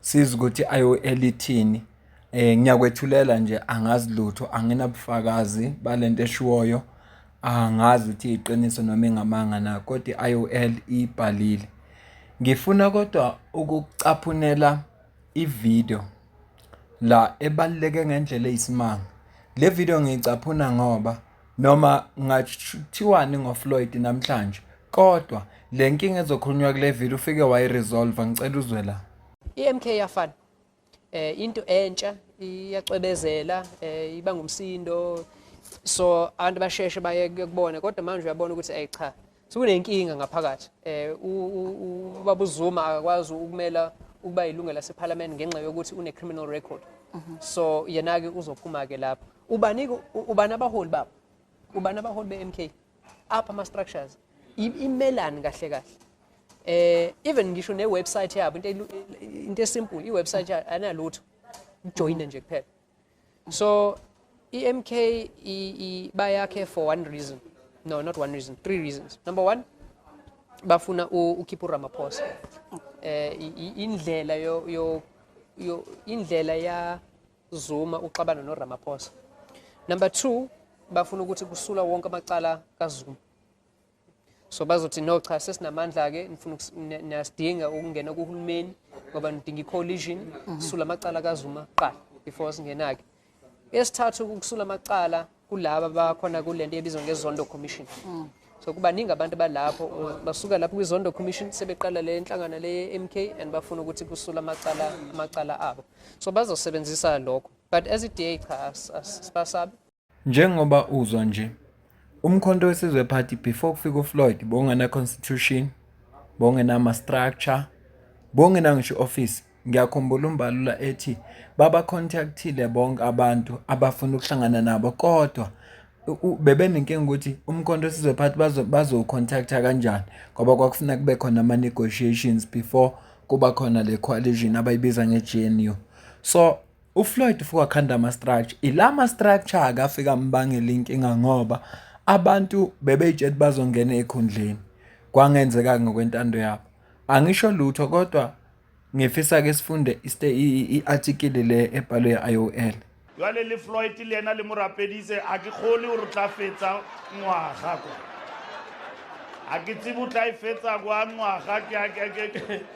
Siza ukuthi ayoelithini um ngiyakwethulela nje angazi lutho anginabufakazi balento eshiwoyo angazi ukuthi iqiniso noma ingamanga na kodwa i-I_O_L ibhalile. Ngifuna kodwa ukucaphunela i-video la ebaluleke ngendlela eyisimanga. Le video ngiyicaphuna ngoba Noma ngathiwani ngoFloyd namhlanje kodwa le nkinga ezokhulunywa kule vile ufike wayiresolva ngicela uzwe la. I-MK yafana eh into entsha iyacwebezela eh iba ngumsindo so abantu basheshe baye kubona kodwa manje uyabona ukuthi ayicha Sekunenkinga ngaphakathi eh ubaba uZuma akakwazi ukumela ukuba yilungu laseParliament ngenxa yokuthi une criminal record mhm. so yena ke uzophuma ke lapha ubani ubani abaholi baba ubani abaholi beMK apha ama structures imelani kahle kahle eh even ngisho ne website yabo into into esimple i website analutho join nje kuphela So EMK bayakhe for one reason. No, not one reason. Three reasons. Number one, bafuna ukhipha uRamaphosa. Eh indlela yo yo yo indlela ya Zuma uxabana no Ramaphosa. Number 2 bafuna ukuthi kusula wonke amacala kaZuma. so bazothi no cha sesinamandla-ke nifuna niyasidinga ukungena kuhulumeni ngoba nidinga i-collision mhm. sisula amacala kazuma kuqala before singena-ke esithathu ukusula amacala kulaba bakhona kule nto ebizwa ngezondo commission mm. so kubaningi abantu balapho basuka lapho kwizondo commission sebeqala le nhlangano le m k and bafuna ukuthi kusula amacala amacala abo so bazosebenzisa lokho but as i-da cha sibasabi Njengoba uzwa nje. Umkhonto weSizwe Party before kufika uFloyd bongena constitution, bongena ama structure, bongena ngisho office. Ngiyakhumbula umbalula ethi baba contactile bonke abantu abafuna ukuhlangana nabo kodwa bebenenkinga ukuthi umkhonto weSizwe Party bazo bazo contacta kanjani ngoba kwakufuna kube khona ama negotiations before kuba khona le coalition abayibiza nge-GNU. So UFloyd ufuke wakhanda ama-structure. Ila ma-structure-ke afike ambangela inkinga ngoba abantu bebeyitshela ukuthi bazongena ey'khundleni. Kwangenzeka-ke ngokwentando yabo. Angisho lutho kodwa ngifisa-ke sifunde i-athikili le ebhalwe i-IOL. Jwale le Floyd le yena le mo rapeditse a ke kgole o re tla fetsa ngwaga kwa. A ke tsebe o tla e fetsa kwa ngwaga ke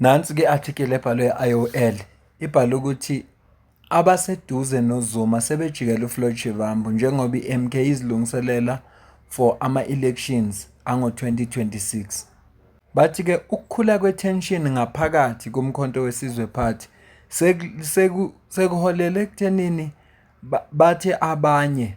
Nansi ke article ebhalwe IOL ibhale ukuthi abaseduze noZuma sebejikela uFloyd Shivambu njengoba iMK izilungiselela for ama-elections ango-2026. Bathi ke ukukhula kwe-tension ngaphakathi kuMkhonto weSizwe Party sekuholele ekuthenini bathe abanye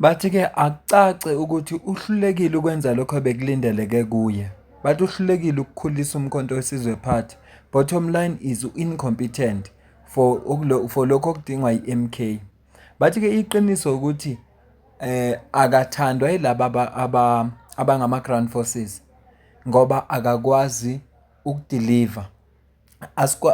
Bathi ke akucace ukuthi uhlulekile ukwenza lokho bekulindeleke kuye. Bathi uhlulekile ukukhulisa umkhonto wesizwe party. Bottom line is u-incompetent for for lokho okudingwa i-MK. Bathi ke iqiniso ukuthi eh akathandwa yilaba aba abangama ground forces ngoba akakwazi ukudeliver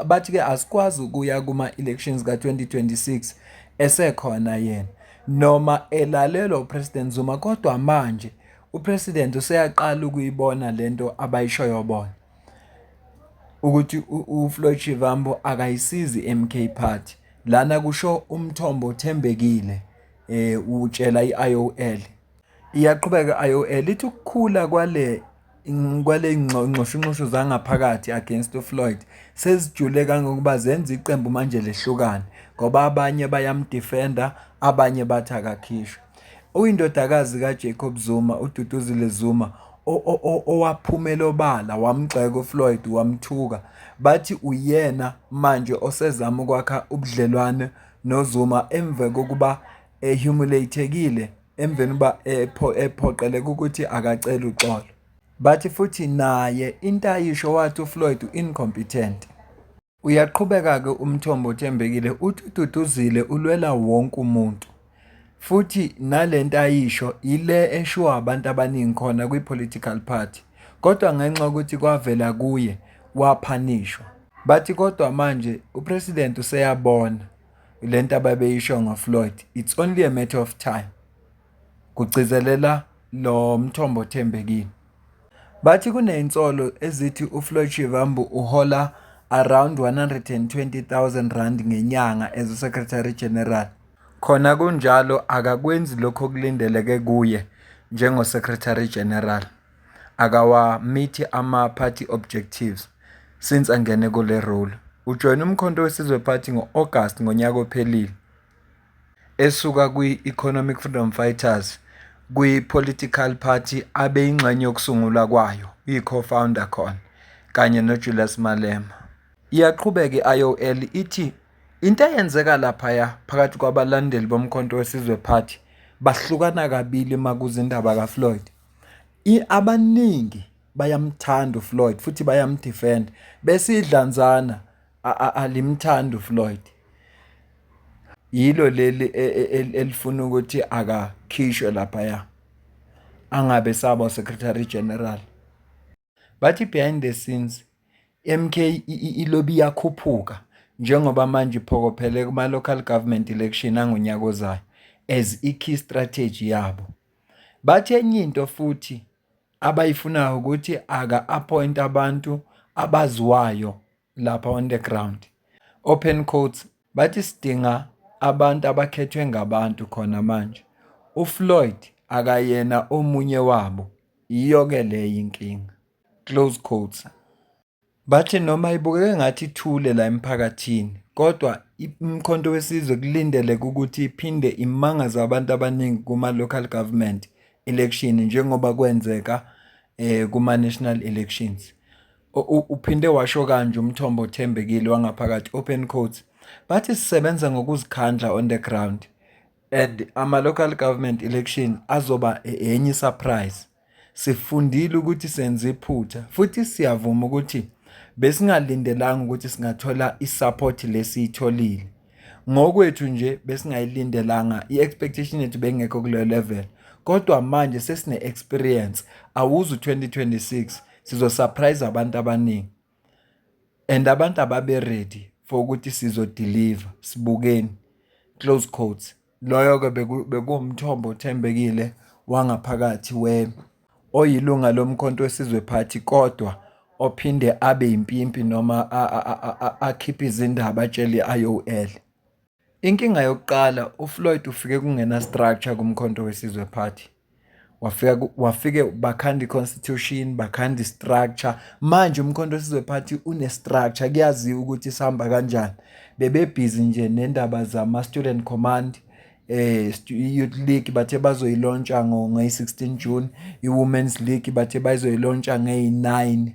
bathi-ke asikwazi ukuya kuma-elections ka-2026 esekhona yena noma elalelwa uPresident Zuma kodwa manje uPresident useyaqala ukuyibona le nto abayishoyo bona ukuthi uFloyd Shivambu akayisizi i-MK Party lana kusho umthombo othembekile um utshela i-IOL. Iyaqhubeka i-IOL ithi ukukhula kwale kwaley'nxushunxushu zangaphakathi against uFloyd sezijule kangangokuba zenza iqembu manje lehlukane ngoba abanye bayamdifenda, abanye bathi akakhishwe. Uyindodakazi kaJacob Zuma, uDuduzile Zuma, owaphumela obala wamgxeka uFloyd wamthuka. Bathi uyena manje osezama ukwakha ubudlelwane noZuma emva kokuba ehumuleyithekile. emveni uba ephoqeleka ukuthi akacele uxolo bathi futhi naye into ayisho wathi uFloyd u-incompetent uyaqhubeka-ke umthombo othembekile uthi ududuzile ulwela wonke umuntu futhi nale nto ayisho yile eshiwo abantu abaningi khona kwi-political party kodwa ngenxa yokuthi kwavela kuye waphanishwa bathi kodwa manje upresident useyabona le nto ababeyisho ngofloyd it's only a matter of time kugcizelela lo mthombo othembekile bathi kunezinsolo ezithi ufloyd shivambu uhola around 120,000 rand ngenyanga as uSecretary General. Khona kunjalo akakwenzi lokho okulindeleke kuye njengoSecretary General. akawamithi ama-party objectives since angene kule role. Ujoyine uMkhonto weSizwe Party ngo-August ngonyaka ophelile esuka kwi-Economic Freedom Fighters kwi-political party abeyingxenye yokusungulwa kwayo, uyi-co-founder khona kanye noJulius Malema. Iyaqhubeka i-IOL ithi into eyenzeka laphaya phakathi kwabalandeli boMkhonto weSizwe Party bahlukana kabili uma kuza indaba kaFloyd. Abaningi bayamthanda uFloyd futhi bayamdefend bese idlanzana alimthandi uFloyd. Yilo leli e, e, e, elifuna ukuthi akakhishwe laphaya angabe saba secretary general. Bathi behind the scenes MK ilobi iyakhuphuka njengoba manje iphokophele kuma-local government election angonyaka ozayo as i-key strategy yabo. Bathi enye into futhi abayifunayo ukuthi aka-appoint abantu abaziwayo lapha on the ground open quotes bathi sidinga abantu abakhethwe ngabantu khona manje uFloyd akayena omunye wabo yiyo ke leyo inkinga close quotes Bathi noma ibukeka engathi ithule la emphakathini kodwa iMkhonto weSizwe kulindeleke ukuthi iphinde imangaze abantu abaningi kuma-local government election njengoba kwenzeka eh, kuma-national elections. Uphinde washo kanje umthombo othembekile wangaphakathi, open quotes, bathi sisebenza ngokuzikhandla on the ground and ama-local government election azoba enye isurprise. Sifundile ukuthi senze iphutha futhi siyavuma ukuthi besingalindelanga ukuthi singathola i-support lesiyitholile. Ngokwethu nje besingayilindelanga i-expectation yethu bengekho kuleyo level kodwa manje sesine-experience awuzi u-2026 sizosurprise abantu abaningi and abantu ababe ready for ukuthi sizodeliver sibukeni close quotes loyo-ke bekuwumthombo othembekile wangaphakathi we oyilunga lomkhonto wesizwe party kodwa ophinde abe impimpi noma akhiphe izindaba atshele i-IOL. Inkinga yokuqala uFloyd ufike kungena structure kumkhonto wesizwe party wafika wafike bakhanda iconstitution bakhanda istructure manje umkhonto wesizwe party une structure kuyaziwa ukuthi sihamba kanjani bebebhizi nje nendaba zama student command eh youth league bathe bazoyilontsha ngo 16 June i women's league bathe bazoyilontsha ngey 9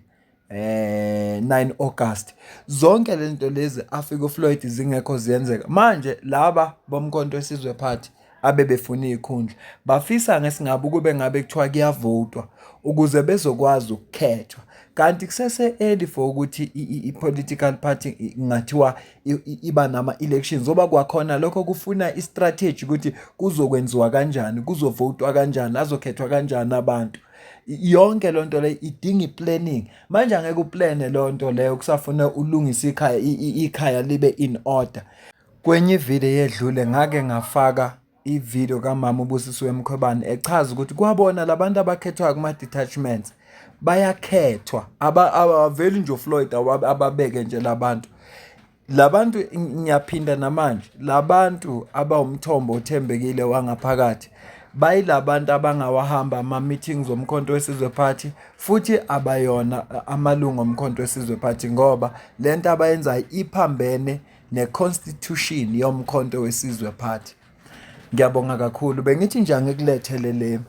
eh 9 August zonke lezinto lezi afika uFloyd zingekho ziyenzeka manje laba bomkhonto wesizwe party abebefuna izikhundla bafisa ngesingabe ukube ngabe kuthiwa kuyavotwa ukuze bezokwazi ukukhethwa kanti kusese early for ukuthi i-political party ngathiwa iba nama elections oba kwakhona lokho kufuna i-strategy ukuthi kuzokwenziwa kanjani kuzovotwa kanjani azokhethwa kanjani abantu yonke lonto le idinga iplanning manje angeke uplane lonto leyo kusafuna ulungisa ikhaya ikhaya libe in order kwenye ivideo yedlule ngake ngafaka ivideo kamama ubusisiwe mkhwebane echaza ukuthi kwabona labantu abakhethwayo kuma detachments bayakhethwa abaveli nje uFloyd ababeke nje labantu Labantu ngiyaphinda namanje labantu abawumthombo othembekile wangaphakathi bayilabantu abangawahamba ama meetings omkhonto wesizwe party futhi abayona amalungu omkhonto wesizwe party ngoba lento abayenzayo iphambene ne constitution yomkhonto wesizwe party. Ngiyabonga kakhulu bengithi nje angikulethele le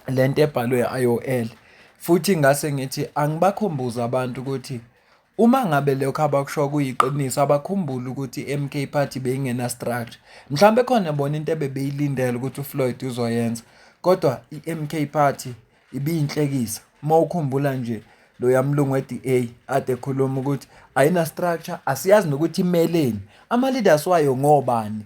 lento ebhalwe IOL futhi ngase ngithi angibakhumbuza abantu ukuthi Uma ngabe lokho abakusho kuyiqiniso abakhumbule ukuthi i-MK Party beyingena structure. Mhlawumbe khona bona into ebebeyilindele ukuthi uFloyd uzoyenza. Kodwa i-MK Party ibiyinhlekisa. Uma ukhumbula nje lo yamlungu we-DA ade ekhuluma ukuthi ayina structure asiyazi nokuthi imeleni. Ama leaders wayo ngobani?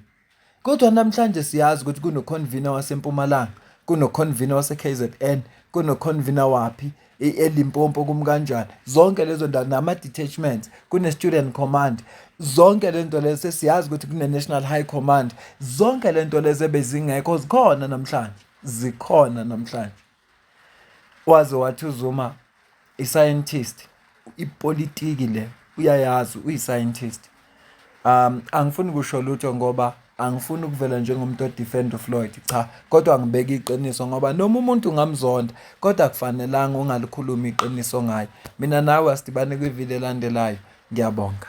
Kodwa namhlanje siyazi ukuthi kunoconvener waseMpumalanga, kunoconvener waseKZN, kunoconvener waphi eLimpopo kumkanjani. Zonke lezo ndawo nama-detachments, kune-student command. Zonke le nto lezo sesiyazi ukuthi kune-national high command. Zonke le nto lezo ebezingekho zikhona namhlanje, zikhona namhlanje. Waze wathi uZuma i-scientist ipolitiki le uyayazi uyi-scientist. Angifuni kusho lutho ngoba angifuni ukuvela njengomuntu odifenda uFloyd cha, kodwa ngibeka iqiniso ngoba noma umuntu ungamzonda kodwa akufanelanga ungalikhulumi iqiniso ngaye. Mina nawe asidibane kwivili elandelayo. Ngiyabonga.